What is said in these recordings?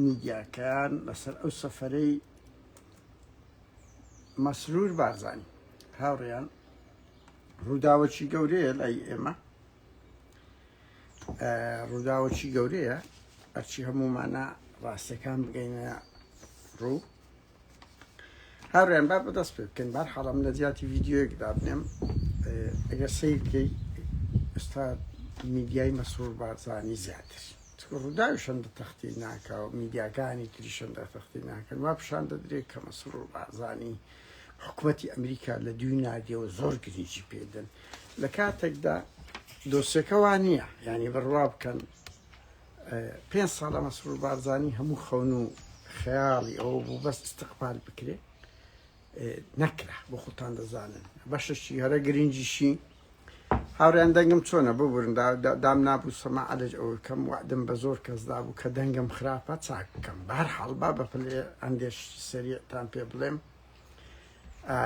میدیاکان لەسەر ئەو سەفەرەی مەسرور بارزانی هاوڕێیان ڕووداوەکی گەورەیە لای ئێمە ڕووداوەکی گەورەیە ئەرچی هەمومانە ڕاستەکان بگەینە ڕوو هاوریان با بەدەست پێ بکەین بار حاڵم لە جیاتی ڤیددیوەک دابنێم ئەگەر سیرکەی ئستا میدیای مەسرور بارزانانی زیاتر ڕووداوی شەندە تەختی ناکە و میدیاکانی تری شەندە تەختی ناکەن وا پیشان دەدرێت کە مەسرور و بازانی حکوومەتتی ئەمریکا لە دوی نادیەوە زۆر گرنگی پێدەن لە کاتێکدا دۆسیەکەوان نییە ینی بڕوا بکەن پێنج ساڵە مەسرور بارزانی هەموو خەون و خەیاڵی ئەوە بوو بەس استقبال بکرێ نەکرا بۆ خۆتان دەزانن بەشەشی هەرە گرنگیشی هاوریان دەنگم چۆنە ببورن دام نابوو سەما عەلج ئەوە کەم وعدم بە زۆر کەسدا بوو کە دەنگم خراپە چاک بکەم بار حاڵبا بە پلێ ئەندێش سەریعتان پێ بڵێم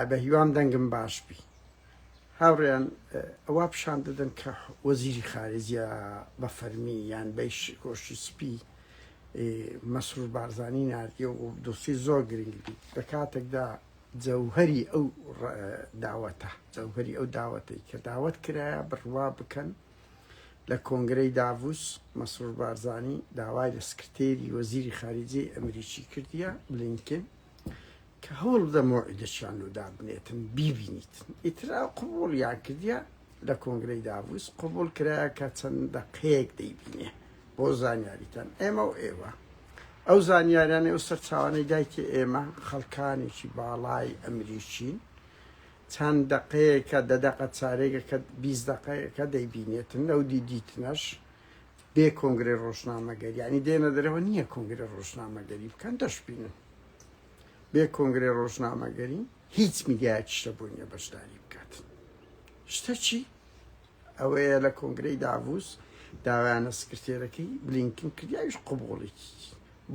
بە هیوام دەنگم باش بی هاوڕێیان ئەوا پیشان دەدەن کە وەزیری خارجە بە فەرمی یان بەیش کۆشی سپی مەسرور بارزانانی نردیە و دۆسی زۆر گرنگ بیت لە کاتێکدا جەوهری ئەو داوەتە جەوهری ئەو داوەتەی کە داوت کرایە بڕوا بکەن لە کۆنگرەی داڤوس مەسرور بارزانانی داوای لە سکرتێری وەزیری خارجی ئەمریکی کردیە بلینکن کە هەوڵبدە مەوعیدەکیان لۆ دابنێتن بیبینیتن ئیتر ئەو قبوڵیان کردیە لە کۆنگرەی داڤوس قبوڵ کرایە کە چەند دەقەیەک دەیبینێ بۆ زانیاریتان ئێمە و ئێوە ئەو زانیاریانەی و سەرچاوانەی دایکی ئێمە خەڵکانێکی باڵای ئەمریکین چەند دەقەیەکە دە دەقە چارێکە کە بیز دەقەیەکە دەیبینێتن لەو دیدیتنەش بێ کۆنگری ڕۆژنامەگەر ینی دێنە دەرەوە نییە کۆنگری ڕۆژنامەگەری بکەن دەشبینن بێ کۆنگرەی ڕۆژنامەگەری هیچ میدیایەکی شتە بۆ نیە بەشداری بکات شتە چی ئەوەیە لە کۆنگرەی داڤوس داوایانە سکرتێرەکەی بلینکن کردیاویش قوبوڵێکی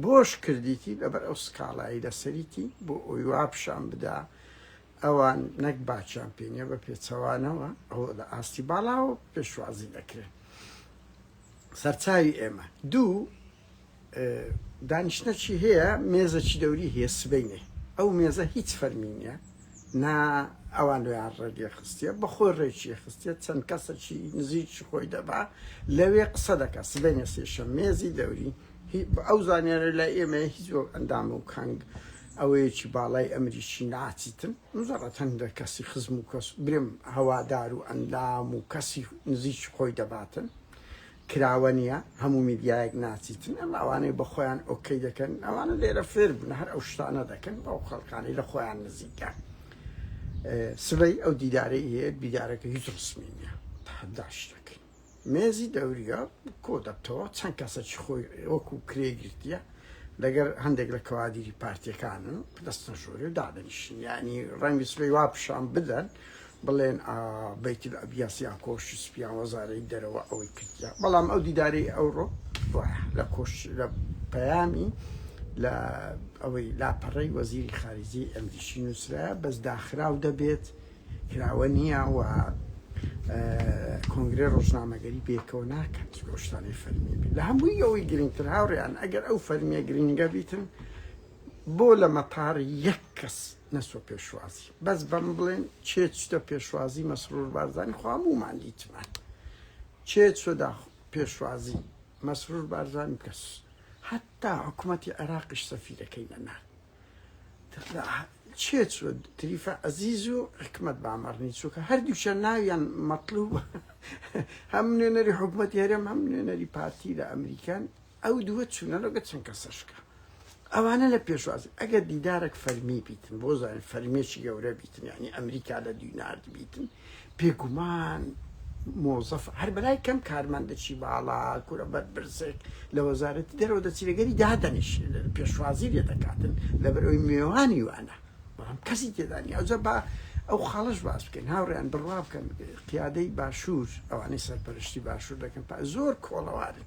بۆش کردیتی لەبەر ئەو سکاڵایی لەسەریتی بۆ ئەوی وابشان بدا ئەوان نەک باچیان پێنیە بە پێچەوانەوە ئەو لە ئاستی باڵاوە پێشوازی دەکرێت سەرچاوی ئێمە دوو دانیشتنەکی هەیە مێزەکی دەوری هەیە سبەینێ ئەو مێزە هیچ فەرمی نیە نا ئەوان لۆیان ڕێگێ خستیە بە خۆی ڕێکی خستێت چەند کەسەکی نزیکی خۆی دەبا لەوێ قسە دەکە سبەینێ سێشە مێزی دەوری ئەو زانیارە لە ئێمە هیچ بۆ ئەندام و کەنگ ئەوەیەکی باڵای ئەمریکی ناچیتن مزەڕەت هەندە کەسی خزم و کەس برم هەوادار و ئەندام و کەسی نزیکی خۆی دەباتن کراوە نیە هەموو میدیایەک ناچیتن ئەمە ئەوانەی بەخۆیان ئۆکەی دەکەن ئەوانە لێرە فێر بن هەر ئەو شتانە دەکەن بەو خەڵکانەی لە خۆیان نزیکە سبەی ئەو دیدارەی هەیە دیدارەکە هیچ ڕسمی نیە تحداش دەکەین مێزی دەوریە کۆ دەبتەوە چەند کەسەکی خۆی وەکو کرێ گرتیە لەگەر هەندێک لە کەوادیری پارتیەکانن دەستە ژۆری و دادەنیشن ینی ڕەنگی سبەی وا پیشان بدەن بڵێن ئا بەیت الابیاس یان کۆشکی سپی یان وەزارەی دەرەوە ئەوەی کردیە بەڵام ئەو دیدارەی ئەوڕۆ وایە لە کۆش لە پەیامی لە ئەوەی لاپەڕەی وەزیری خارجی ئەمریکی نووسرایە بەس داخراو دەبێت کراوە نییە و کۆنگرێ ڕۆژنامەگەری بێکەوە ناکەن چکۆ شتانەی فەرمی بێت لە هەمووی ئەوەی گرنگتر هاوڕیان ئەگەر ئەو فەرمیە گرنگە بیتن بۆ لە مەتار یەک کەس نەسۆ پێشوازی بەس بەم بڵێن کێ چتە پێشوازی مەسرور بارزانی خوا هەموومان دیتمان کێ چۆدا پێشوازی مەسرور بارزانی کەس حتا حکوومەتی عێراقیش سەفیرەکەی نەنار چێ چوە تریفە ئەزیز و حکمت بامەڕنی چووکە هەردووشە ناویان مەطلوب هەم نوێنەری حکوومەتی هەرێم هەم نوێنەری پارتی لە ئەمریکان ئەو دووە چونە لەگە چەند کەسە شکا ئەوانە لە پێشوازی ئەگەر دیدارێک فەرمی بیتن بۆ زانین فەرمێکی گەورە بیتن ینی ئەمریکا لە دوینارد بیتن پێگومان مۆزەف هەر بەلای کەم کارمەندەچی باڵا کورە بەربرسێک لە وەزارەتی دەرەوە دەچیرەگەری دادەنیش پێشوازی لێ دەکاتن لەبەر ئەوی مێوانی وانە بەڵام کەسی تێدانی ئەوجە بە ئەو خاڵش باس بکەن هاوڕیان بڕوا بکەن قیادەی باشوور ئەوانەی سەرپەرشتی باشوور دەکەن زۆر کۆڵەوارن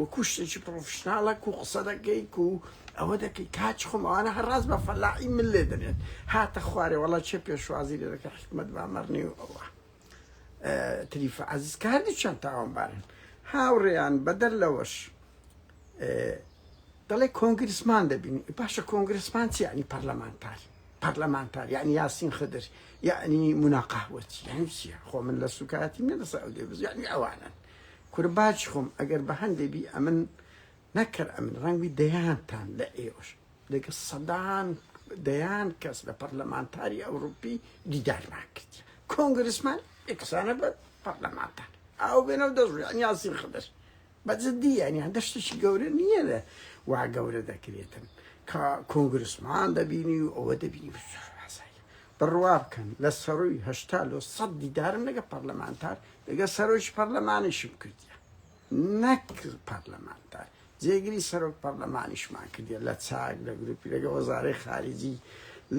وەکو شتێکی پڕۆفیشناڵە کو قسە دەکەی کو ئەوە دەکەی کاچ خۆم ئەوانە هەر ڕاست بە فەلاحی من لێ دەنێن هاتە خوارێ وەڵا چێ پێشوازی لێ دەکە حکمت با مەڕنی و ئەوە تریفە عزیز کە هەردووچیان تاوانبارن هاوڕێیان بەدەر لەوەش دەڵێ کۆنگرسمان دەبین باشە کۆنگرسمان چی ینی پەرلەمانتار پەرلەمانتار یعنی یاسین خدر یعنی مناقاهوەچی یعنی چیە خۆ من لە سوکایەتی منە لەسەر ئەو دێبز یعنی ئەوانن کورە باجی خۆم ئەگەر بە هەندێ بی ئەمن نەک کەر ئەمن ڕەنگ بی دەیانتان لە ئێوەش لەگەڵ سەدان دەیان کەس لە پەرلەمانتاری ئەوروپی دیدارمان کرد کۆنگرسمان ئێکسانە بە پەرلەمانتار ئەو بێنە و دەست یان یاسین خدر بە جدی یان یان دەشتێکی گەورە نییە لە وا گەورە دەکرێتن کە کۆنگرسمان دەبینی و ئەوە دەبینی بسوور بڕوا بکەن لە سەرووی هەشتا لۆ سەد دیدارم لەگە پەرلەمانتار لەگە سەرۆکی پەرلەمانیشم کردیە نەک پەرلەمانتار جێگری سەرۆک پەرلەمانیشمان کردیە لە چاک لە گروپی لەگە وەزارەی خارجی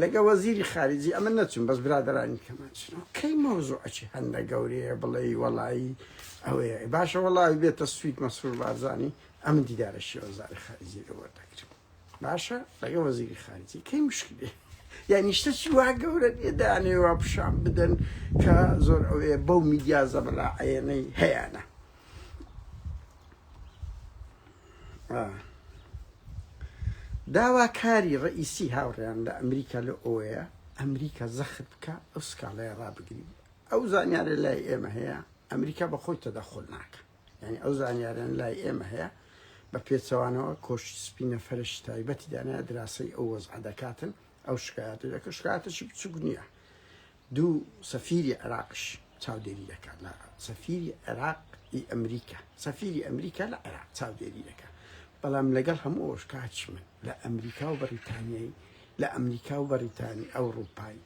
لەگە وەزیری خارجی ئەمە نەچون بەس برادرانی کەمان چون کەی مۆزوو ئەچی هەندە گەورەیە بڵێ وەڵایی ئەوەیە باشە وەڵاوی بێتە سویت مەسرور بارزانانی ئەم دیدارە شێوەزاری خارجی لەوە دەکرم باشە لەگە وەزیری خارجی کەی مشکلی یعنی شتە چی وا گەورە دێدانێ وا پیشان بدەن کە زۆر ئەوێ بەو میدیا زەبەلا عەنەی هەیەە داواکاری ڕئیسی هاوڕێیان لە ئەمریکا لە ئەوەیە ئەمریکا زەخت بکە ئەو سکاڵەیە ڕابگری ئەو زانیارە لای ئێمە هەیە ئەمریکا بە خۆی تەدەخل ناکە یانی ئەو زانیاران لای ئێمە هەیە بە پێچەوانەوە کۆشی سپی نەفرەشی تایبەتی دانە دراسەی ئەو وەزعە دەکاتن ئەو شکایەت دەکە شکاتەشی بچوک نییە دوو سەفیری عراقش چاودێری دەکات لە سەفیری عێراق ئی ئەمریکا سەفیری ئەمریکا لە عێراق چاودێری دەکات بەڵام لەگەڵ هەموو ئۆشکاچ من لە ئەمریکا و بەریتانیایی لە ئەمریکا و بەریتانی ئەوروپایی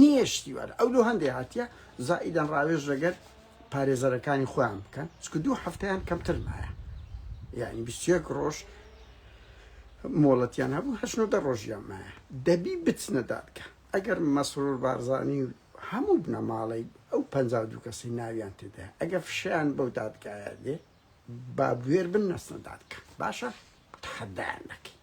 نیشتیوان ئەو لۆ هەندێ هاتیە زائیدەن ڕاوێژ لەگەر پارێزەرەکانی خۆیان بکەن چکە دوو هەفتیان کەمتر مایە یعنی بیستێک ڕۆژ مۆڵەتیان هەبوو هەشنۆ دە ڕۆژیان مایە دەبی بچنە دادکە ئەگەر مەسرور بارزانانی و هەموو بنەماڵی ئەو پ دوو کەسی ناویان تێدا ئەگە فشیان بەو دادگایە دێ با بوێر بن نەسنە دادکە باشە تحدایان دەکەین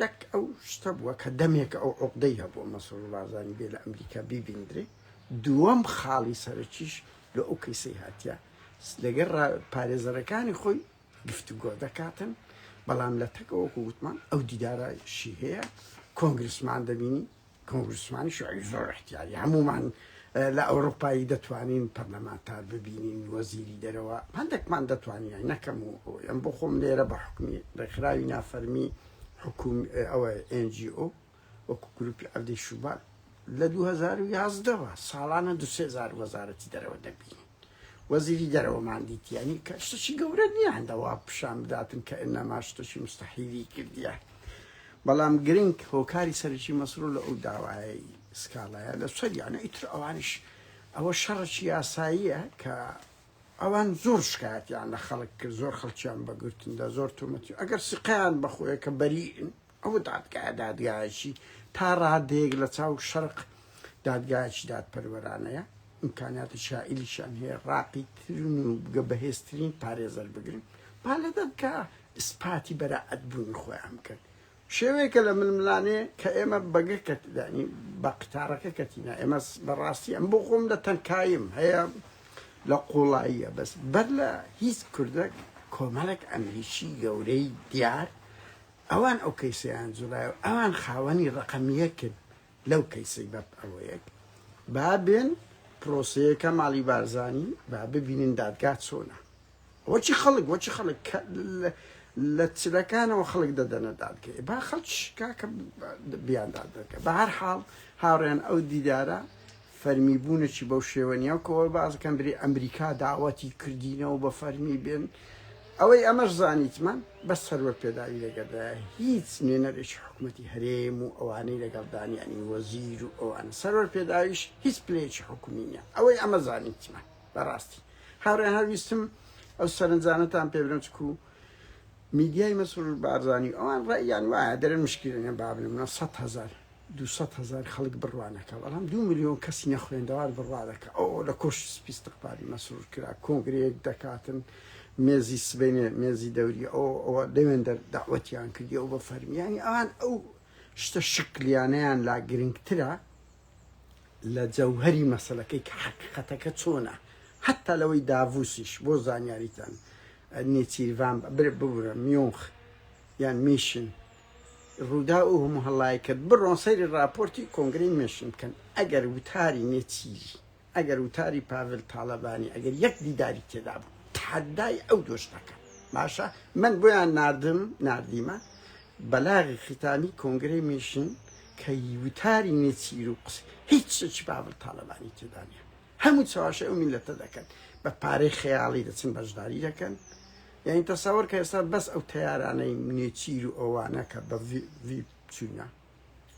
دەک ئەو شتە بووە کە دەمێکە ئەو عوقدەی هەبووە مەسرور بارزانی بێ لە ئەمریکا بیبیندرێ، دووەم خاڵی سەرەکیش لۆ ئەو کەیسەی هاتیە لەگەر را پارێزەرەکانی خۆی گفتوگۆ دەکاتن بەڵام لە تەکەوە وەکو وتمان ئەو دیدارە شی هەیە کۆنگرسمان دەبینی، کۆنگرسمان شوعەیب زۆر ئیحتیاری هەموومان لە ئەوروپایی دەتوانین پەرلەمانتار ببینین وەزیری دەرەوە هەندێکمان دەتوانین نەکەم و ئەم بۆ خۆم لێرە بە حکمی ڕێکخراوی نافەرمی حکوم ئەوە NGO وەکو گروپی عەبدی شوبات لە 2011 ساڵانە دوسێزار وەزارەتی دەرەوە دەبینین وەزیری دەرەوەمان دیت یانی کە شتەکی گەورە نییە هەندە وا پیشان بداتن کە ئنەما شتەکی مستەحیلی کردیە بەڵام گرنگ هۆکاری سەرکی مەسرور لە ئەو داوایەی سکاڵایە لە سەر یانە ئیتر ئەوانش ئەوە شەڕەکی یاساییە کە ئەوان زۆر شکایەتیان لە خەڵک کرد زۆر خەڵکیان بەگرتندا زۆر تۆمەتی ئەگەر سقیان بەخۆیە کە بەریئن ئەو دادگایە دادگایەکی تا ڕادەیەک لە چاو شەرق دادگایەکی دادپەروەرانەیە، ئیمکانیاتی شائیلیشیان هەیە ڕاقی ترین و بگە بەهێزترین پارێزەر بگرن، با لە دادگا ئیسپاتی بەرائەت بوونی خۆیان بکەن. شێوەیەکە لە ململانێ کە ئێمە بەگە کە یانی بە قتارەکە کەتینە، ئێمە بە ڕاستی ئەم بۆ خۆم لە تەنکاییم هەیە لە قوڵاییە بەس بەر لە هیچ کوردەک کۆمەڵێک ئەمریکی گەورەی دیار، ئەوان ئەو کەیسەیان جوڵایەو ئەوان خاوەنی ڕەقەم یەکن لەو کەیسەی بەب ئەوەیەک با بێن پرۆسەیەکە ماڵی بارزانی با ببینن دادگا چۆنە وەچی خەڵک وەچی خەڵک لە چلەکانەوە خەڵک دەدەنە دادگەی با خەڵک کاکە بیان دادگە بە هەر حاڵ هاوڕێن ئەو دیدارە فەرمی بوونەچی بەو شێوە نیە وەکو ئەوە باسدەکەن بری ئەمریکا داوەتی کردینەوە بە فەرمی بێن ئەوەی ئەمەش زانیتمان بەس سەروەر پێداوی لەگەردایە هیچ نوێنەرێکی حکومەتی هەرێم و ئەوانەی لەگەڵدان یانی وەزیر و ئەوانە سەروەر پێداویش هیچ پلەیەکی حکومی نیە ئەوەی ئەمە زانیتمان بەڕاستی هاوڕێ هەویستم ئەو سەرنجانەتان پێ برم چکو میدیای مەسرور بارزانی ئەوان ڕێیان وایە دەرن مشکلێنە بابنمە سەد هەزار دوو سەد هەزار خەڵک بڕوانەکە بەڵام دوو ملیۆن کەسی نەخوێندەوار بڕوادەکە ئەو لە کۆشی سپی استقبالی مەسرور کرا کۆنگرەیەک دەکاتن مێزی سبەینێ مێزی دەوری ئەو ئەوە لەوێن دەر داوەتیان کردی ئەو بە فەرمیانی ئەوان ئەو شتە شکلیانیان لا گرنگترە لە جەوهری مەسلەکەی کە حقیقەتەکە چۆنە حتا لەوەی داڤوسیش بۆ زانیاریتان نێچیرڤان ببورە میۆنخ یان میشن ڕووداو ئه و مهڵای کرد بڕۆن سەیری ڕاپۆرتی کۆنگرەی مێشن بکەن ئەگەر وتاری نێچیری ئەگەر وتاری پاڤل تاڵەبانی ئەگەر یەک دیداری تێدا بوو تحەدای ئەو دۆش دەکەم باشە من بۆیان ناردم ناردیمە بەلاغی ختامی کۆنگرەی مێشن کە وتاری نێچیر و قسە هیچ شتێکی پاڤل تاڵەبانی تێدا نیە هەموو چەواشەی ئەو میلەتە دەکەن بە پارەی خەیاڵی دەچن بەژداری دەکەن یانی تەسەوەر کە ئێستا بەس ئەو تەیارانەی نێچیر و ئەوانە کە بە ڤیپ چوینە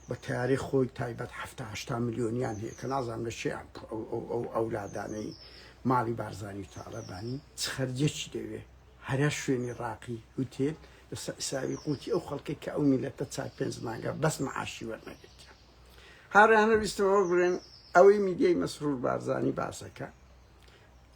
بە تیاری خۆی تایبەت هەهشتا ملیۆنیان هەیە کە نازان لە شیان ئەو ئەولادانەی ماڵی بارزانانی و تاالەبانی چ خەرجێکی دەوێ هەرە شوێنی ڕاقی هوتێل لەسەر ئیساوی قوتی ئەو خەڵکی کە ئەو میلەتە چار پێنج مانگە بەس معاشی وەرنەگرتیان هاوڕێیانە ویستم ئەوە بڵێن ئەوەی میدیای مەسرور بارزانی باسەکە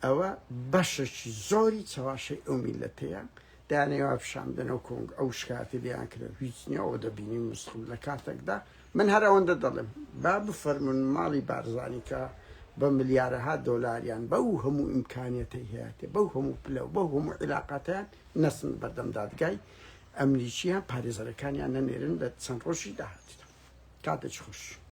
ئەوە بەشەکی زۆری چەواشەی ئەو میلەتەیە دانێوا پیشاندنەوە کۆنگ ئەو شکاتی لیان کرد هیچ نیەوە دەبینی مستخم لە کاتێکدا من هەر ئەوەندە دەڵێم با بفەرمون ماڵی بارزانانیکە بە ملیارەها دۆلاریان بەو هەموو ئیمکانەتی هەیەێ بەو هەموو پلە و بەو هەموو عیلااقاتیان نەسن بەردەم دادگای ئەمریکییە پارێزەرەکانیان نەنێرن لە چەند ڕۆژی داهاتوودا. کاتێکی خۆش.